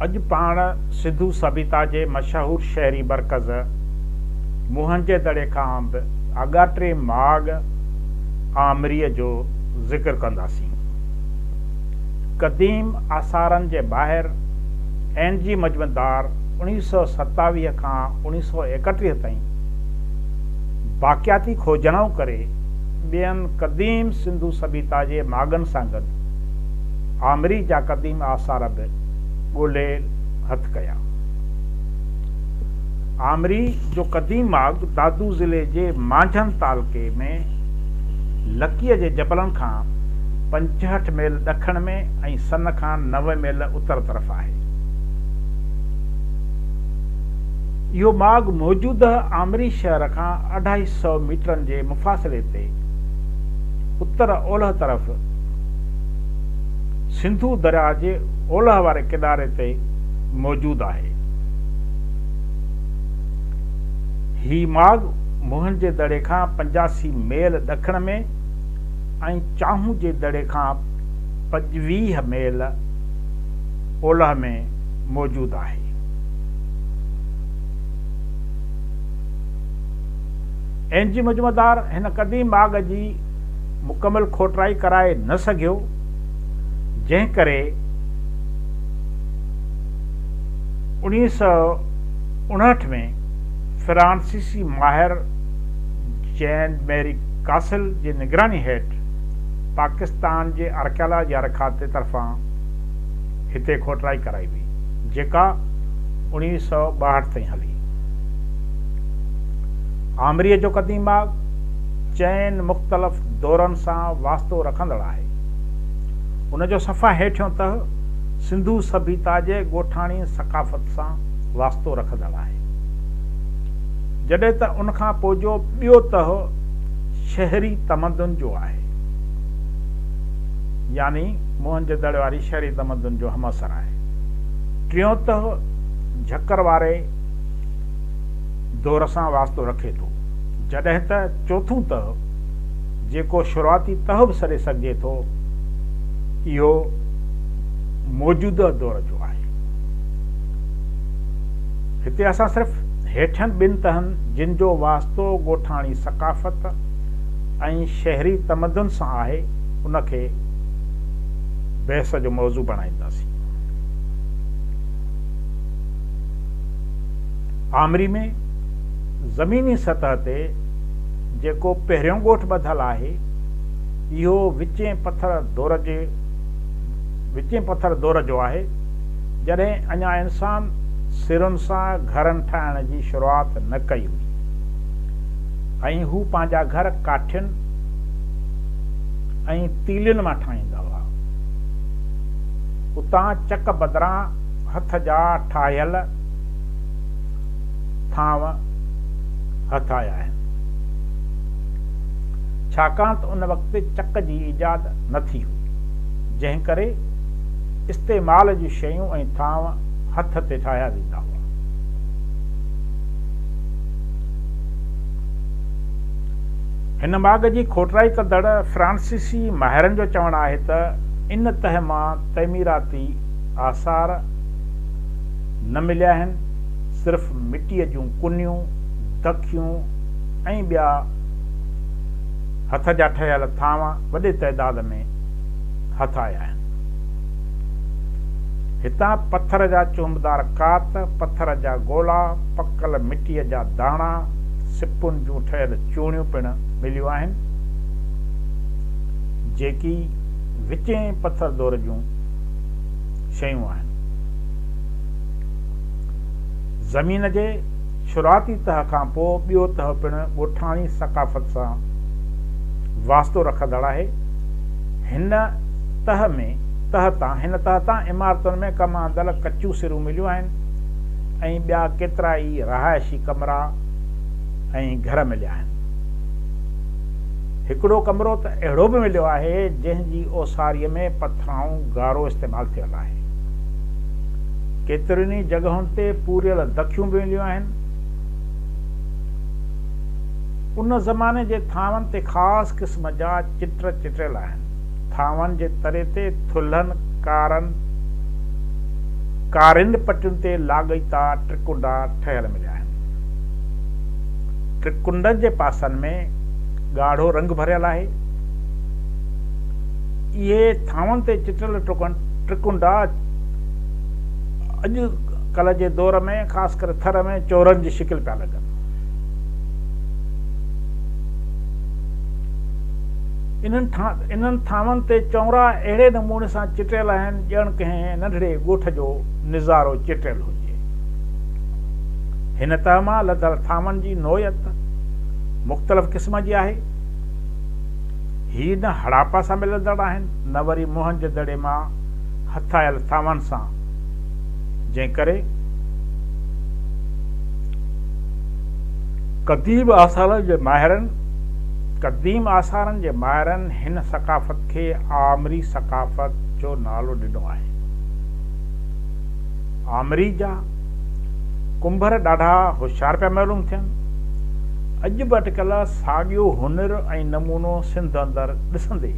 اڄ پاڻ سنڌو سڀيتا جي مشهور شهري مرڪز موهنجي دڙي کان به آڳاٽي ماڳ آمريء جو ذڪر ڪنداسين. قديم آثارن جي ماهر اين جي مجمدار اوڻيهه سؤ ستاويهه کان اوڻيهه سؤ ايڪٽيهه تائين باقياتي کوجڻائون ڪري ٻين قديم سنڌو سڀيتا جي ماڳن سان گڏ آمري جا قديم آثار به ڳولي هٿ ڪيا. آمري جو قديم ماڳ دادو ضلعي جي مانجهند تعلقي ۾ لڪيء جي جبلن کان پنجهٺ ميل ڏکڻ ۾ ۽ سن کان نوي ميل اتر طرف آهي. اهو ماڳ موجوده آمري شهر کان اڍائي سئو ميٽرن جي مفاصلي تي اتر اولهه طرف سنڌو درياء جي اولهه واري ڪناري تي موجود آهي. هي ماڳ موهن جي دڙي کان پنجاسي ميل ڏکڻ ۾ ۽ چانهون جي دڙي کان پنجويهه ميل اولهه ۾ موجود آهي. اين جي مجمعدار هن قديم ماڳ جي مڪمل کوٽرائي ڪرائي نه سگهيو، جنهن ڪري اوڻيهه سؤ اڻهٺ ۾ فرانسيسي ماهر جين ميري ڪاسل جي نگراني هيٺ پاڪستان جي آرڪيالاجي يارخاتي طرفان هتي کوٽرائي ڪرائي وئي، جيڪا اوڻيهه سؤ ٻاهٺ تائين هلي. آمريء جو قديم ماڳ چئن مختلف دورن سان واسطو رکندڙ آهي. ان جو صفا هيٺيون تهه سنڌو سڀيتا جي ڳوٺاڻي ثقافت سان واسطو رکندڙ آهي، جڏهن ته ان کان پوء جو ٻيو تهه شهري تمدن جو آهي، يعني، موهنجودڙ واري شهري تمدن جو همعصر آهي. ٽيون تهه جهڪر واري دور سان واسطو رکي ٿو، جڏهن ته چوٿون تهه، جيڪو شروعاتي تهه به سڏي سگهجي ٿو، اهو موجوده دور جو آهي. هتي اسان صرف هيٺين ٻن تهن، جن جو واسطو ڳوٺاڻي ثقافت ۽ شهري تمدن سان آهي، ان کي. بحث جو موضوع بڻائينداسين. آمري ۾ زميني سطح تي جيڪو پهريون ڳوٺ ٻڌل آهي، اهو وچين پٿر دور جي وچين پٿر دور جو آهي، جڏهن اڃا انسان سرن سان گهرن ٺاهڻ جي شروعات نه ڪئي هئي ۽ هو پنهنجا گهر ڪاٺين ۽ تيلين مان ٺاهيندا هئا. اتان چڪ بدران هٿ جا ٺاهيل ٿانو هٿ آيا آهن. ڇاڪاڻ ته ان وقت چڪ جي ايجاد نه ٿي هئي، جنهن ڪري استعمال جون شيون ۽ ٿانو هٿ تي ٺاهيا ويندا هئا. هن ماڳ جي کوٽرائي ڪندڙ فرانسيسي ماهرن جو چوڻ آهي ته ان تهه مان تعميراتي آثار نه مليا آهن، صرف مٽيء جون ڪنيون، دکيون ۽ ٻيا هٿ جا ٺهيل ٿانو وڏي تعداد ۾ هٿ آيا آهن. هتان پٿر جا چهنبدار ڪات، پٿر جا گولا، پڪل مٽيء جا داڻا، سپن جون ٺهيل چوڻيون پڻ مليون آهن جيڪي وچين پٿر دور جون شيون آهن زمين جي شروعاتي تهه کان پوء ٻيو تهه پڻ ڳوٺاڻي ثقافت سان واسطو رکندڙ آهي هن تهه ۾ تهه تان هن تهه تان عمارتن ۾ ڪم آندل ڪچيون سرون مليون آهن ۽ ٻيا ڪيترا ئي رهائشي ڪمرا ۽ گهر مليا آهن. هڪڙو ڪمرو ته اهڙو به مليو آهي، جنهن جي اوساريء ۾ پٿرائون گارو استعمال ٿيل آهي. ڪيترين ئي جڳهن تي پوريل دکيون به مليون آهن. ان زماني جي ٿانون تي خاص قسم جا چٽ چٽيل آهن. ٿانون جي تري تي ٿلهن ڪارن ڪارين پٽين تي لاڳيتا ٽرڪنڊا ٺهيل مليا آهن. ٽرڪنڊن جي پاسن ۾ ڳاڙهو رنگ ڀريل آهي. اهي ٿانون تي چٽيل ٽرڪنڊا اڄ ڪلهه جي دور ۾ خاص ڪري ٿر ۾ چورن جي شڪل پيا لڳن. انهن ٿانون تي چونرا اهڙي نموني سان چٽيل آهن ڄڻ ڪنهن ننڍڙي ڳوٺ جو نظارو چٽيل هجي. هن تهه مان لڌل ٿانون جي نوعيت مختلف قسم جي آهي. هي نه هڙاپا سان ملندڙ آهن نه وري موهن جي دڙي مان هٿايل ٿانون سان جنهن ڪري قديم آثارن جي ماهرن قديم آثارن جي ماهرن هن ثقافت کي آمري ثقافت جو نالو ڏنو آهي. آمري جا ڪنڀر ڏاڍا هوشيار پيا معلوم ٿين. اڄ به اٽڪل ساڳيو هنر ۽ نمونو سنڌ اندر ڏسندي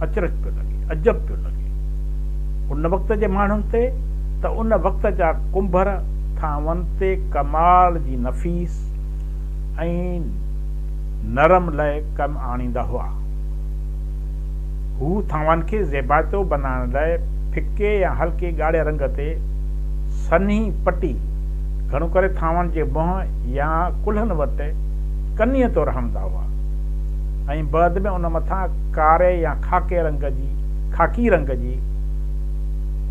اچرج پيو لڳي، عجب پيو لڳي. ان وقت جي ماڻهن تي ته ان وقت جا ڪنڀر ٿانون تي ڪمال جي نفيس ۽ نرم لئه ڪم آڻيندا هئا. هو ٿانون کي زيبائتو بنائڻ لئه ڦڪي يا هلڪي ڳاڙهي رنگ تي سنهي پٽي، گهڻو ڪري ٿانون جي منهن يا ڪلهن وٽ ڪنيء طور هڻندا هئا ۽ بعد ۾ ان مٿان ڪاري يا خاڪي رنگ جي خاڪي رنگ جي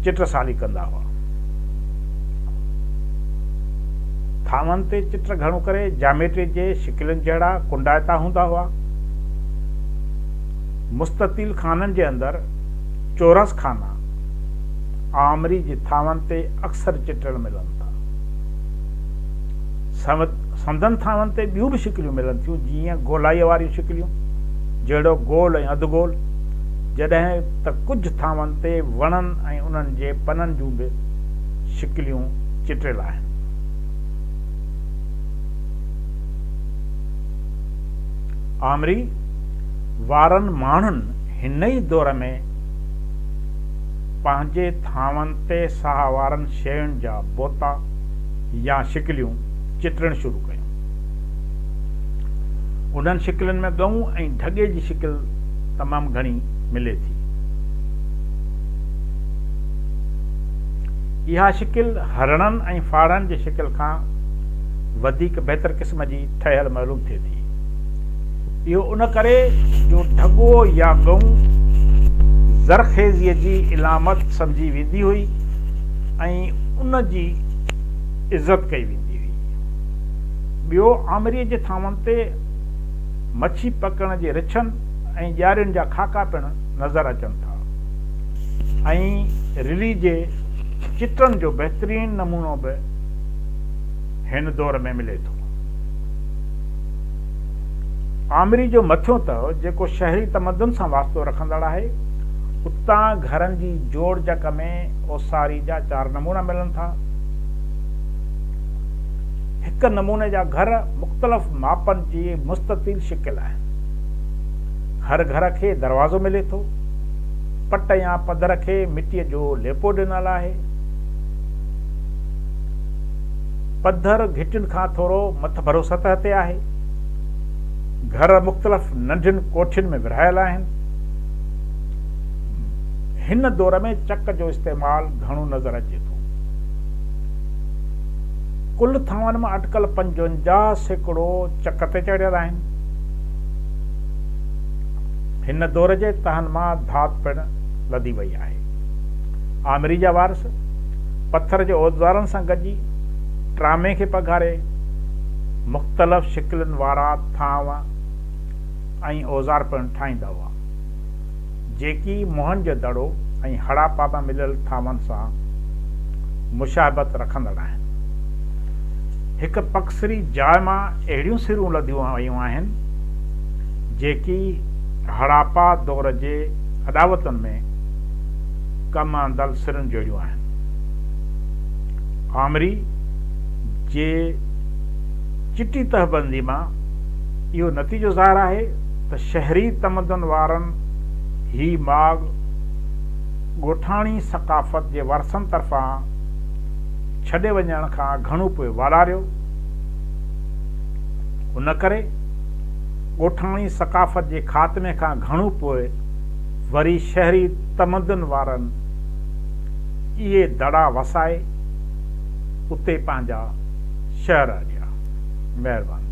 چٽسالي ڪندا هئا. ٿانون تي چٽ گهڻو ڪري جاميٽري جي قلعن جهڙا ڪنڊائتا هوندا هئا. مستطيل خانن جي اندر چورس خانا آمري جي ٿانون تي اڪثر چٽل ملن ٿا. سندن ٿانون تي ٻيون به شڪليون ملن ٿيون جيئن گولائيء واريون شڪليون، جهڙوڪ گول ۽ اڌ گول، جڏهن ته ڪجهه ٿانون تي وڻن ۽ انهن جي پنن جون به شڪليون چٽل آهن. آمري وارن ماڻهن هن ئي دور ۾ پنهنجي ٿانون تي ساهه وارن شين جا بوتا يا شڪليون چٽڻ شروع ڪيون. انهن شڪلين ۾ ڳئون ۽ ڍڳي جي شڪل تمام گهڻي ملي ٿي. اها شڪل هرڻن ۽ ڦاڙهن جي شڪل کان وڌيڪ بهتر قسم جي ٺهيل معلوم ٿئي ٿي. اهو ان ڪري جو ڍڳو يا ڳئون زرخيزيء جي علامت سمجهي ويندي هئي ۽ ان جي عزت ڪئي ويندي هئي. ٻيو آمريء جي ٿانون تي مڇي پڪڙڻ جي رڇن ۽ ڄارين جا خاڪا پڻ نظر اچن ٿا ۽ رلي جي چٽن جو بهترين نمونو به هن دور ۾ ملي ٿو. آمري جو مٿيون تهه جيڪو شهري تمدن سان واسطو رکندڙ آهي، اتان گهرن جي جوڙجڪ ۾ اوساري جا چار نمونا ملن ٿا. هڪ نموني جا گهر مختلف ماپن جي مستطيل شڪل آهن. هر گهر کي دروازو ملي ٿو. پٽ يا پڌر کي مٽيء جو ليپو ڏنل آهي. پڌر گهٽين کان ٿورو مٿڀرو سطح تي آهي. گهر مختلف ننڍين ڪوٺين ۾ ورهايل آهن. هن دور ۾ چڪ جو استعمال گهڻو نظر اچي ٿو. ڪل ٿانون مان اٽڪل پنجونجاهه سيڪڙو چڪ تي چڙهيل آهن. هن دور جي تهن مان ڌات پڻ لڌي وئي آهي. آمري جا وارث پٿر جي اوزارن سان گڏجي ٽرامي کي پگهاري، مختلف شڪلن وارا ٿانو ۽ اوزار پڻ ٺاهيندا هئا، جيڪي موهن جو دڙو ۽ هڙاپا مان مليل ٿانون سان مشابهت رکندڙ آهن. هڪ پڪسري جاء مان اهڙيون سرون لڌيون ويون آهن، جيڪي هڙاپا دور جي اڏاوتن ۾. ڪم آندل سرن جوڙيون آهن. آمري جي چٽي تهبندي مان اهو نتيجو ظاهر آهي ته شهري تمدن وارن هي ماڳ ڳوٺاڻي ثقافت جي ورثن طرفان ڇڏي وڃڻ کان گهڻو پوء والاريو. ان ڪري ڳوٺاڻي ثقافت جي خاتمي کان گهڻو پوء، وري شهري تمدن وارن اهي دڙا وسائي اتي پنهنجا شهر اڏيا. مهرباني.